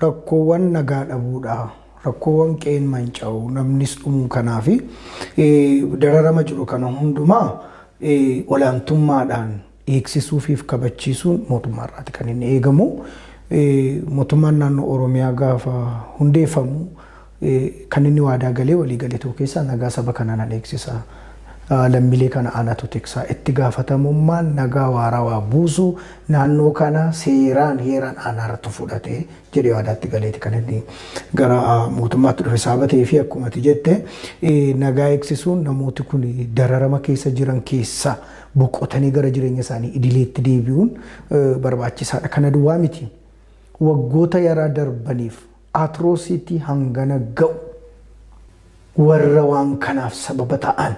rakkoowwan nagaa dhabuudha. Rakkoowwan qe'een manca'u namnis dhumuu kanaa fi dararama jiru kana hundumaa olaantummaadhaan eegsisuu fi kabachiisuun mootummaa irraati kan inni eegamu. Mootummaan naannoo Oromiyaa gaafa hundeeffamu Kan inni waadaa galee walii gale tokko keessaa nagaa saba kanaa nan eegsisa, lammiilee kana anatu tiksa, itti gaafatamummaan nagaa waarawaa buusuu naannoo kanaa seeraan, heeraan anaaratu fudhate jedhee waadaa itti galeeti kan inni gara mootummaatti dhufe. Sababa ta'eefi akkuma ati jette nagaa eegsisuun namooti kun dararama keessa jiran keessaa boqotanii gara jireenya isaanii idileetti deebi'uun barbaachisaadha. Kana duwwaa miti. Waggoota yaraa darbaniif Atrocity hangana ga'u warra waan kanaaf sababa ta'an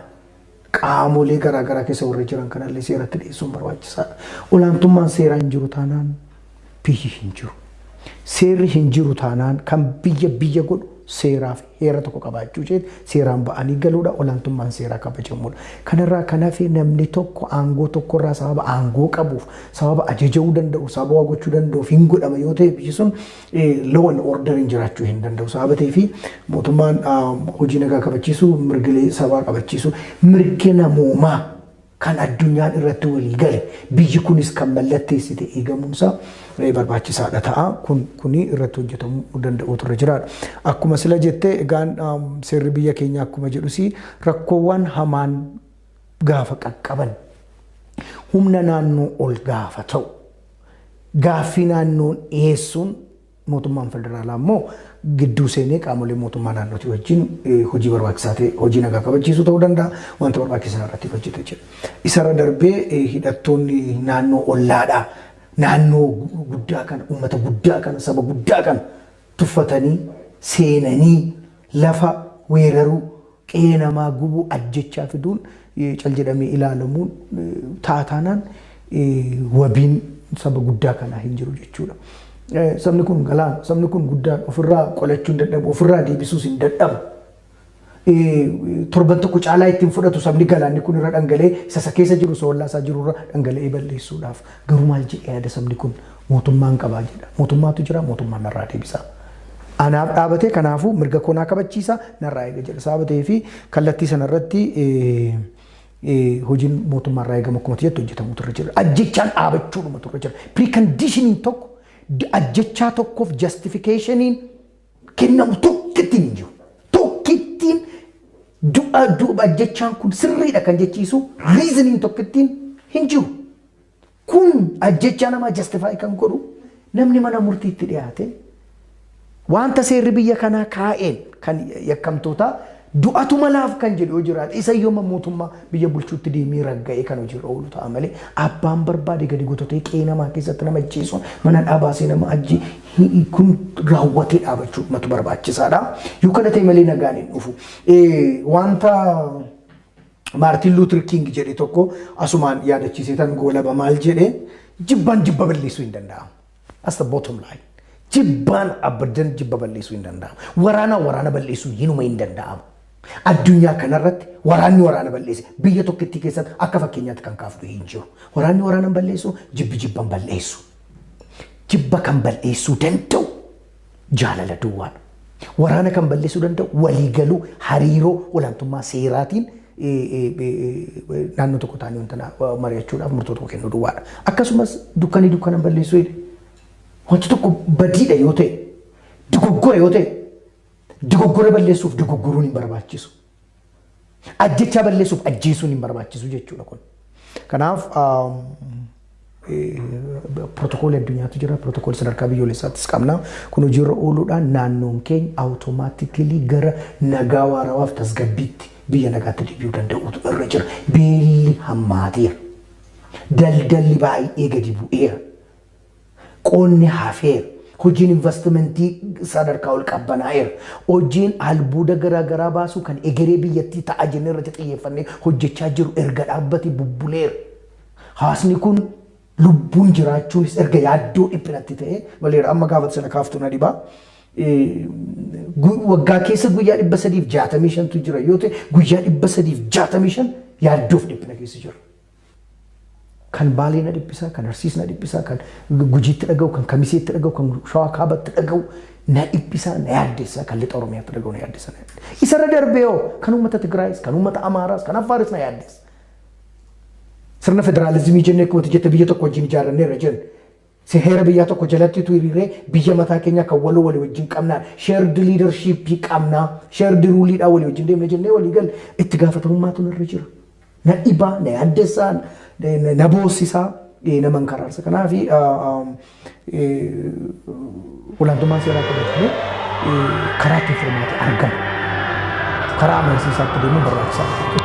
qaamolee garaa garaa keessa warra jiran kanallee seeratti dhiyeessuun barbaachisaadha. Olaantummaan seeraa hin jiru taanaan biyyi hin jiru. Seerri hin jiru taanaan kan biyya biyya godhu seeraaf heera tokko qabaachuu isheeti seeraan ba'anii galuudha olaantummaan seeraa kabajamuudha. Kanarraa kan hafe namni tokko aangoo tokkorraa sababa aangoo qabuuf sababa ajaja'uu danda'u sababa waa gochuu danda'uuf hin godhama yoo ta'e biyyi sun law and orderiin jiraachuu hin danda'u. Sababa ta'eef mootummaan hojii nagaa kabachiisu, mirgilee sabaa kabachiisu, mirga namoomaa kan addunyaan irratti walii gale biyyi kunis kan mallatteessite eegamuunsaa barbaachisaadha ta'a. Kun kuni irratti hojjetamuu danda'uu turre jiraadha. Akkuma sila jette egaan seerri biyya keenya akkuma jedhus rakkoowwan hamaan gaafa qaqqaban humna naannoo ol gaafa ta'u gaaffii naannoon dhiyeessuun mootummaan federaalaa immoo gidduu seenee qaamolee mootummaa naannootii wajjin eh, hojii barbaachisaa ta'e hojii nagaa kabachiisuu ta'uu danda'a wanta barbaachisaa irratti hojjeta jira. Isarra darbee eh, hidhattoonni naannoo ollaadhaa naannoo guddaa kana uummata guddaa kana saba guddaa kana tuffatanii seenanii lafa weeraruu, qe'ee namaa gubuu, ajjechaa fiduun cal jedhamee ilaalamuun ta'a taanaan wabiin saba guddaa kanaa hin jiru jechuudha. Sabni kun galaana, sabni kun guddaan ofirraa qolachuun dadhabu, ofirraa deebisuus hin dadhabu. torban tokko caalaa ittiin fudhatu sabni galaanni kun irra dhangalee isa isa keessa jiru isa ollaa isaa jiru irra dhangala'ee balleessuudhaaf garuu maal jedhee yaada sabni kun mootummaan qabaa jedha mootummaatu jira mootummaan narraa deebisaa. Anaaf dhaabatee kanaafuu mirga koo naa kabachiisa narraa eega jedha sababa ta'ee fi kallattii sanarratti hojiin mootummaarraa eegamu akkuma jettu hojjetamutu irra jira. Ajjechaan dhaabachuudhumatu irra jira. Piriikandishiniin tokko ajjechaa tokkoof jastifikeeshiniin kennamu tokkittiin hin jiru. Tokkittiin du'a duuba ajjechaan kun sirriidha kan jechiisu riiziniin tokkittiin hin jiru. Kun ajjechaa namaa jastifaayi kan godhu namni mana murtiitti dhiyaate wanta seerri biyya kanaa kaa'een kan yakkamtootaa Du'atu malaaf kan jedhu yoo jiraate isa yooma mootummaa biyya bulchuutti deemee ragga'ee kan hojiirra oolu ta'a malee abbaan barbaade gadi gototee qe'ee namaa keessatti nama ajjeesuun mana hidhaa baasee nama ajjee hi- kun raawwatee dhaabachuu matu barbaachisaadha. Yoo kana ta'e malee nagaan hin dhufu. Eh, Wanta Maartiin Luutir Kiing jedhe tokko asumaan yaadachiisee tan goolaba maal jedhe jibbaan jibba balleessuu hin danda'amu. That's the bottom line. Jibbaan abaddan jibba balleessuu hin danda'amu. Waraanaa waraana balleessuun hinuma hin danda'amu. Addunyaa kanarratti waraanni waraana balleesse biyya tokkittii keessatti akka fakkeenyaatti kan kaafnu hin jiru. Waraanni waraana balleessu jibbi jibban balleessu. Jibba kan balleessuu danda'u jaalala duwwaadha. Waraana kan balleessuu danda'u waliigaluu hariiroo olaantummaa seeraatiin naannoo tokko taa'anii wanta mari'achuudhaaf murtoo tokko kennuu duwwaadha. Akkasumas dukkanii dukkana balleessuu jedhe. Wanti tokko badiidha yoo ta'e, dogoggora yoo ta'e, dogoggora balleessuuf dogoggoruun hin barbaachisu. Ajjechaa balleessuuf ajjeesuun hin barbaachisu jechuudha kun. Kanaaf pirootokoolii addunyaatu jira, pirootokoolii sadarkaa biyyoolessaattis qabna. Kun hojiirra ooluudhaan naannoon keenya awutomaatikilii gara nagaa waarawaaf tasgabbiitti biyya nagaatti deebi'uu danda'uutu irra jira. Beelli hammaateera. Daldalli baay'ee gadi bu'eera. Qonni hafeera. Hojiin invastimantii sadarkaa ol qabbanaa'eera. Hojiin albuuda garaa garaa baasuu kan egeree biyyattii ta'a jennee irratti xiyyeeffannee hojjechaa jirru erga dhaabbate bubbuleera. Hawaasni kun lubbuun jiraachuunis erga yaaddoo dhiphinatti ta'ee maleera. Amma gaafa ati sana kaaftu na dhiba. Waggaa keessa guyyaa 365tu jira yoo ta'e guyyaa 365 yaaddoof dhiphina keessa jirra. Kan Baalee na dhiphisaa, kan Arsiis na dhiphisaa, kan Gujiitti dhaga'u, kan Kamiseetti dhaga'u, kan Shawaa Kaabatti dhaga'u na dhiphisaa, na yaaddessaa, kan Lixa Oromiyaatti dhaga'u na yaaddessaa. Isarra darbee hoo kan uummata Tigraayis, kan uummata Amaaraas, kan Affaaris na yaaddessa. Sirna federaalizimii jennee akkuma jette biyya tokko wajjin ijaarranneerra jennu Se heera biyyaa tokko jalatti utuu hiriirree biyya mataa keenyaa kan waloo walii wajjin qabnaan shared leadership qabna shared rule dhaan walii wajjin deemna jennee walii galle itti gaafatamummaatu narra jira. Na dhiba, na yaaddessa, na boossisa, nama hin karaarsa. Kanaaf olaantummaan seeraa kabajamee karaa ittiin furmaata argatu karaa amansiisaatti deemuun barbaachisaa dha jechuudha.